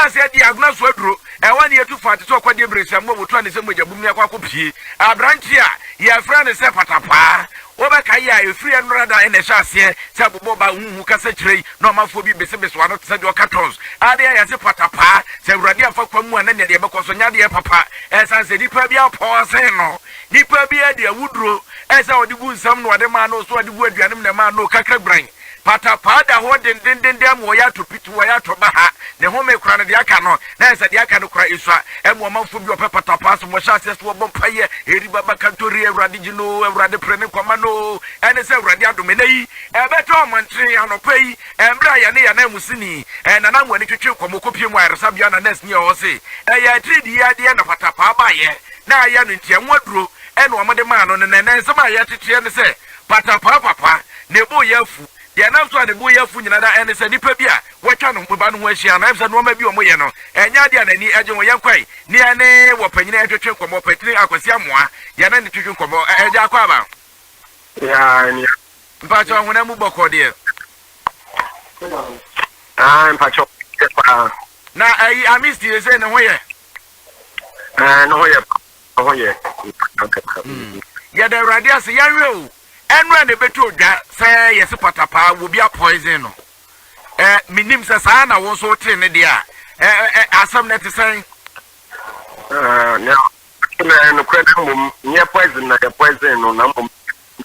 aseɛ di agona so aduro ɛwɔ ne yɛtu fa te sɛ ɔkɔde abirɛsia mu a wɔtu ane sɛ mogya bum ne akɔ akɔ pie aberante a yɛfrɛ ne sɛ patapaa wobɛka yɛ a ɛfiri ɛnora da ɛna ɛhyɛ aseɛ sɛ bobɔ ba huhu kasa kyerɛ yi Na ɔmanfoɔ bi besebesew ano te sɛ deɛ ɔka tons, a na yɛayɛ se patapaa, sɛ Awurade amfa kwan mu a na nea deɛ ɛbɛkɔ so nyɛ adeɛ papa, ɛsiane sɛ nipa bi apɔn asen no. Nipa bi de awuduro, ɛsɛ ɔde gu nsam na ɔde maa no, so ɔde gu aduanem na ɛmaa no kakra guran. Patapaa da hɔ dendendenden ama ɔyɛ atɔ piti, ɔyɛ atɔ baha, ne home koraa no, deɛ aka no, na ayɛ sɛ deɛ aka no koraa esua. Ɛma ɔmanfoɔ bi a wɔpɛ patapaa som wɔhyɛ aseɛ sɛ wɔbɔ mpaeɛ, Eri baba kanto ri, Awurade gye no oo, Awurade pere ne nkwa ma no oo, ɛne sɛ Awurade adom, ɛnnɛ yi, Ɛbɛda ɔmantin anɔpa yi mmerɛ a yɛne yɛn ananmusini nanamuani twetwe kɔmmɔ kɔpue mu ayaresabea na nɛɛseni a ɔwɔ se ɛyɛ atiridii adeɛ na patapaa baeɛ na ayɛ no nti ɛho aduro na wɔde maa no no na ɛnɛ nsɛm a yɛreteteɛ ne sɛ patapaa papa ne bo yɛ afu deɛ ɛnam so a ne bo yɛ afu nyina da ɛne sɛ nnipa bi a wɔatwa ne ba no ho ahyia na ɛm sɛ nnoɔma bi wɔyɛ no ɛnyɛ adeɛ a n'ani agye ho yɛnkwae ne yɛne wɔpanyini ɛtwetwe nkɔmmɔ ɔpatini Akwasi Amoa yɛne ne twetwe nkɔmmɔ ɛgya akɔ aba. Yaa nea Mpatsɔ hona mu bɔkɔ deɛ. Ah, mpatsɔ yɛ paa. Na ayi amis deɛ sɛ ne ho yɛ. Ɛɛ ne ho yɛ ne ho yɛ. Hmm. Yɛda awurade ase yɛnhwɛ o. Ɛno a na ɛbɛtu odwa sɛ yɛse pata paa wɔ bi a poison no. Ɛɛ menim sɛ saa na wo nso wote ne deɛ a. Ɛɛ asɛm no te sɛn? Ɛɛ ne nokorɛ na mmom nyɛ poison na yɛ poison no na mmom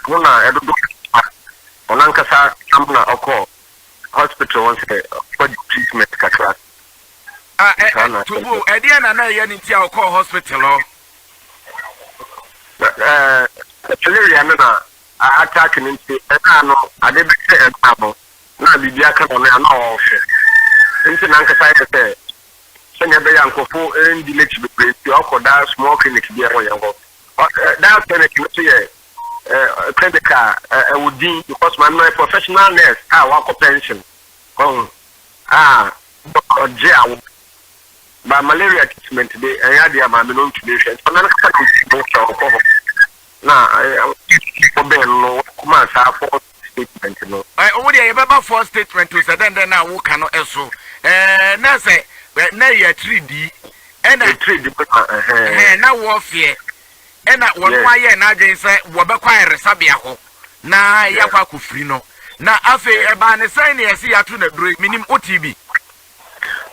Hɔn na dodow no ara hɔn ankasa nam na ɔkɔ hospital hɔ sɛ ɔbɛgye treatment kakra. Ah, eh, eh, Tubu, ɛdeɛ na na ɛyɛ ne nti a ɔkɔɔ hospital hɔ? Eh, malaria no na attack ne nti, ɛkaa no ade bɛhyɛ ɛmaa no, na biribi aka no no a na ɔrehwɛ. Nti na ankasa yɛ sɛ sɛnea ɛbɛyɛ a nkurɔfo ndi n'akyi bebree nti ɔkɔ daa small clinic bi a ɛwɔ yɛn hɔ. That clinic no nso yɛ clinic a ɛwɔ din because maame no yɛ professional nurse a wakɔ pension ɔho a ɔgye awo ba malaria treatment de ɛyɛ adeɛ a maame no ntumi nhwɛ nti maame no kasa no ntumi nhwɛ ɔkɔ hɔ na ɔbɛn no kɔma asaafo statement no. Ɛ wo deɛ yɛ bɛ ba foɔ statement o sɛ dɛn dɛn na wo ka no ɛ so ɛɛ na sɛ ɛ na yɛ tiri di ɛ na. Yɛ tiri di bɛ na ɛhɛn. Ɛhɛn na wɔɔ fiɛ ɛ na wɔn mo ayɛ na adwene sɛ wɔ bɛ kɔ ayɛresabea hɔ na yɛ akɔ akɔ firi no na afei ɛ baa ne sɛn na yɛ si yɛ ato na duro yi mi nim o tii bi.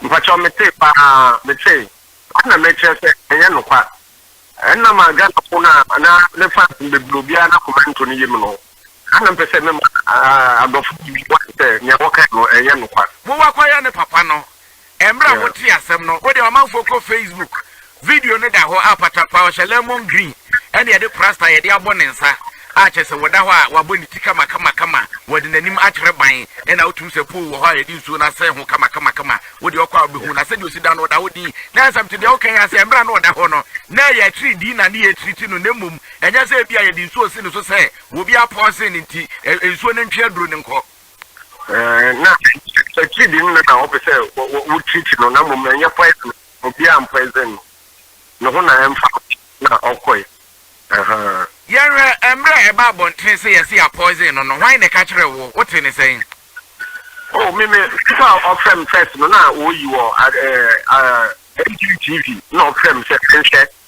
Mpatsɔ me tee paa me tee ɛna mɛ kyerɛ sɛ ɛnyɛ nokwa ɛna ma Ghana fo na na ne fans bebree obiara na kɔmɛnto ne yɛ mu no. Saa na mepɛ sɛ mema adɔfo no bi wahu sɛ nea wɔkae no yɛ nokware. Mo wa kɔyɛ ne papa no. Mmerɛ a motee asɛm no, wodeɛ ɔmanfoɔ kɔ Facebook, video no da hɔ a patapaa ɔhyɛ lemon green ɛna yɛde prasta yɛde abɔ ne nsa a kyerɛ sɛ wɔda hɔ a wabɔ ne ti kamakamakama wɔde n'anim akyerɛ ban ɛna wotum sɛ pool wɔ hɔ a yɛde nsuo no asɛn ho kamakamakama wodeɛ ɔkɔ a wobɛhu na sɛdeɛ ɔsi da no ɔda hɔ din na ɛnsɛm te deɛ woka yi ase mmerɛ a na ɔda hɔ no na ɛyɛ akyiri din na ne yɛ akyiri ti no na mmom Ɛnyɛ sɛ ebia yɛde nsuo si ne so sɛ obi apɔɔse no nti, nsuo no ntwe aduro no nkɔ. Na akyiri de no na wɔpɛ sɛ wɔtreat no, na mmom ɛnyɛ poison, obiara mpoison no, ne ho na ɛmfa ho na ɔkɔe. Ahaa. Yɛnhwɛ, mmerɛ a ɛbaa abɔntene sɛ yɛse yɛapoison no no, hwan na ɛka kyerɛɛ wo? Wote ne sɛn? Oh, me, me, nnipa a ɔfrɛ me first no, na wɔyi wɔ NTV TV, na ɔfrɛ me sɛ menhwɛ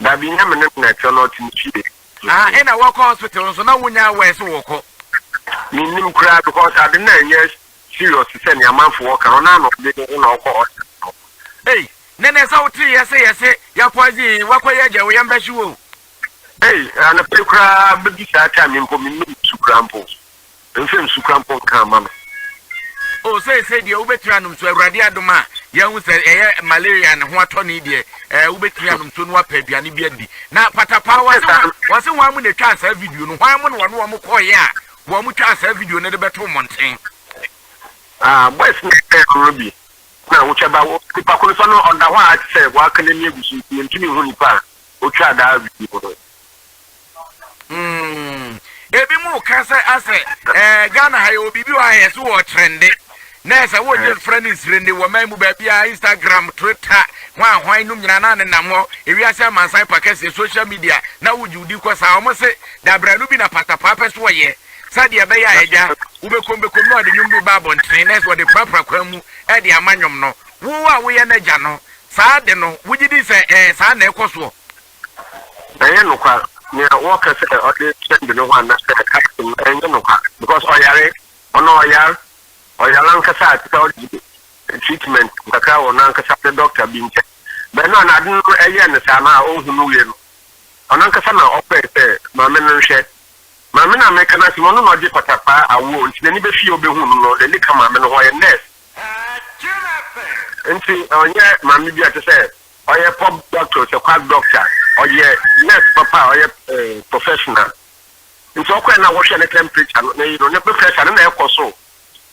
Dabi, nnyɛ me ne no na ɛtse no, ɔtse ne fie. Na nna wɔkɔ hospital so, na wonnyaa word sɛ wɔkɔ. Minnim koraa because ade no annyɛ serious te sɛ nea amanfo wɔ ka no, na ana ɔde ne ho na ɔkɔ hospital. Ei, na ɛnɛ sɛ wote yɛ se yɛse yɛ poison yi, woakɔ yɛ agya o, yɛn bɛhye wo o. Ei, anɔpa yi koraa bɛdu saa time yi mpo, mennom nsu koraa mpo. Nfrɛ me sukura mpo nka mma me. Oh seesei deɛ wobɛtumi anom nsuo Awurade adom a yɛahu sɛ ɛyɛ malaria ne ho atɔne deɛ ɛɛ wobɛtumi anom nsuo na wapɛ aduane bi adi na patapaa wɔse wɔn wɔse wɔn mo na ɛtwaa saa video no wɔn mo na wɔne wɔn kɔɔyɛ a wɔn mo twaa saa video no de bɛto mmɔnten. Ah boys no yɛ koro bi na wotwa ba wo nipa ko no sɛ no ɔda hɔ a te sɛ waka n'ani agu so nti yɛntumi nhu nipa a otwaa daa video no. Mm. Ebi mu ka sɛ asɛ ɛɛ Ghana ha yɛwɔ biribi wɔ ha yɛsɛ wɔ trɛnde na ɛsɛ wɔ gye mfrɛ ne nsirende wɔ man mu baabi a Instagram, Twitter, hwan a hwan nom nyinaa na ne nam hɔ ewiase amansan pa kɛseɛ social media na wogye wodi kɔ saa wɔn se dabranu bi na patapaa pɛ so wɔyɛ sɛdeɛ ɛbɛyɛ a agya wobɛkɔm bɛkɔm na ɔde nnwom bi ba abɔntene na ɛsɛ wɔde prapra kwan mu ɛde ama nnwom no wo a woyɛ n'agya no saa de no wogye di sɛ ɛɛ saa na ɛkɔ soɔ ɛnyɛ nokwar nea wɔkã sɛ ɔdze hyɛnd no ho anaasɛ ahyem no nnyɛ nokwar because ɔyare ɔno ɔyar ɔyar ankasa a tse dɛ ɔregye treatment kakra wɔ nankasa ne doctor bi nkyɛn but na ɔno ade no ɛyɛɛ no saa na onnhu no wie no ɔnankasa na ɔpɛɛ sɛ maame no nhwɛ maame no a meka no asɛm ɔno na ɔgye patakwaa awoɔ nti n'ani bɛfi yɛ ɔbɛhu no no n'ani ka maame no ho ɔyɛ nurse nti ɔnyɛ maame bi a te sɛ Ɔyɛ pop doctor ɔsɛ quack doctor ɔyɛ nurse papa a ɔyɛ professional nti ɔkɔɛ na wɔhwɛ ne temperature no ne yino ne blood pressure no na ɛkɔ so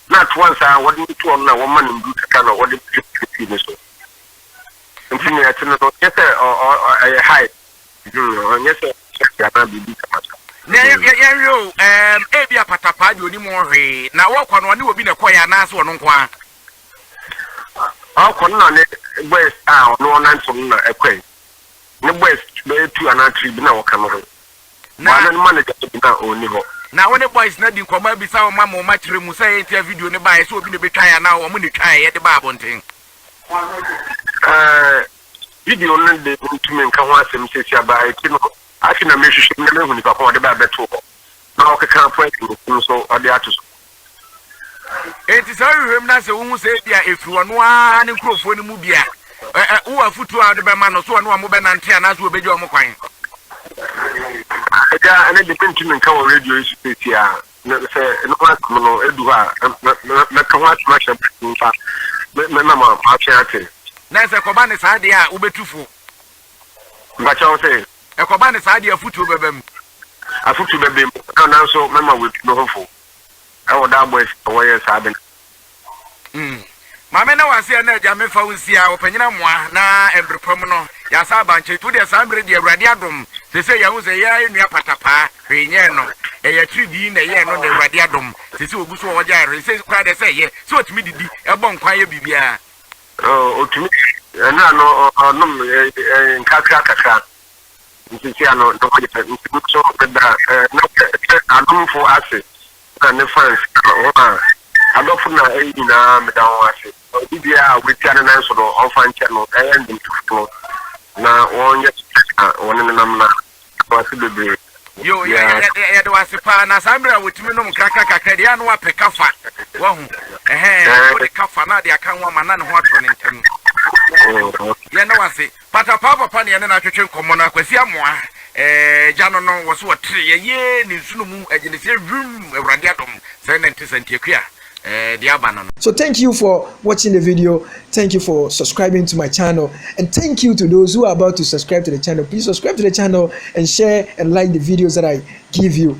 na atoa nsa wɔde no to ɔno na wɔma no ndu kakra na wɔde drip drip ne so nti ne ɛte no no nyɛ sɛ ɛyɛ high ɔnyɛ sɛ ɔhyɛ anaa biribi kamasa. yɛnhwɛ o ebi apatapaa deɛ ɔnim ho hwee na wɔkɔ no ɔne obi na ɛkɔɛ anaasɛ ɔno nko ara Ɔkɔ no na ne boys a ɔno ɔnantew no na ɛkɔe. Ne boys bɛyɛ two anaa three bi na wɔka no ho. Na wɔn no manager no bi na ɔnni hɔ. Na wo ne boys no adi nkɔmmɔ abisa wɔn ama wɔn akyerɛ mu sɛ ɛyɛ nti a video no baeɛ sɛ obi na ebetwae anaa wɔn na etwaeɛ de baa abɔnten. Ɛɛ video no de mentumi nka ho asɛm sɛsi aba eti no afei na mehwehwɛ mu na mehu nipa ko a ɔde bae bɛtoo hɔ na ɔkeka points no nso ɔde ato so. Enti sɛ wohwehwɛ mu na sɛ wohu sɛ ebia ɛfiri ɔno ara ne nkurɔfoɔ no mu bi a, wowɔ afotuo a wode bɛma no so ɔne wɔn bɛnante anaasɛ wɔbɛgya wɔn kwan? Agya, ɛne de mentumi nka wɔ radio yi so seesei a. Sɛ ne ho asɛm no du hɔ a, mɛka ho asɛm ahyɛ mo nsa na moatwe ate. Na sɛ ɛkɔba ne saa deɛ a, wobɛtu fo? Mpakyɛ wo se? Ɛkɔba ne saa deɛ afotuo bɛba mu? Afotuo bɛba mu, nanso mɛma wɔatu me ho fo. ɛwɔ da abɔ akyi na wɔyɛ saa ade no. Mm. Ma me ne wo ase ɛna Agya, me fa wo nsia, ɔpanyin amoa, na mbre pa mu no, yasa aba nkyɛn nti wo deɛ saa mbre deɛ Awurade adom, sese yɛahu sɛ yɛa yɛ nua patapaa, hwee nyɛɛ no, ɛyɛ atiridii na ɛyɛɛ no na Awurade adom, sese ɔgu so a ɔgyae hwee, sese koraa deɛ sɛ ɛyɛ sɛ ɔtumi didi, ɛbɔ nkwan yɛ biribiara. Oh, ɔtumi, ɛna no ɔnom nkakra kakra, ntsetsea no no ho yɛ nkugu so mber a nna sɛ sɛ adomfo ase na ne fans na hɔn a adɔfo na iyi nyina meda hɔn ase. Obi biara a oepia ne nan so no ɔmfa nkyɛ no ɔyɛ ndwontofo no na wɔnyɛ no sɛdza hɔn nenam na yɛda mo ase beberee Yo, yɛ yɛ yɛ de yɛde wo ase paa, na saa mmerɛ a wɔtumi nom nkrakra kakra deɛ, ɛyɛ a na wapɛ kafa, wahu, ɛhɛn, na wode kafa na ade aka ho ama na ne ho atɔ ne ntɛm. Yo, yɛda wo ase. Patapaa papa na yɛne no atwetwe nkɔmmɔ no, Kwasi Amoah, eh, gya no no, wɔ se wɔtere yɛ yee ne nsono mu agyeneseɛ hwimm, Awurade adom, sɛɛ na nte Santiakua, eh, deɛ aba no no. So thank you for watching the video, thank you for subscribing to my channel and thank you to those who are about to subscribe to the channel, please subscribe to the channel and share and like the videos that I give you.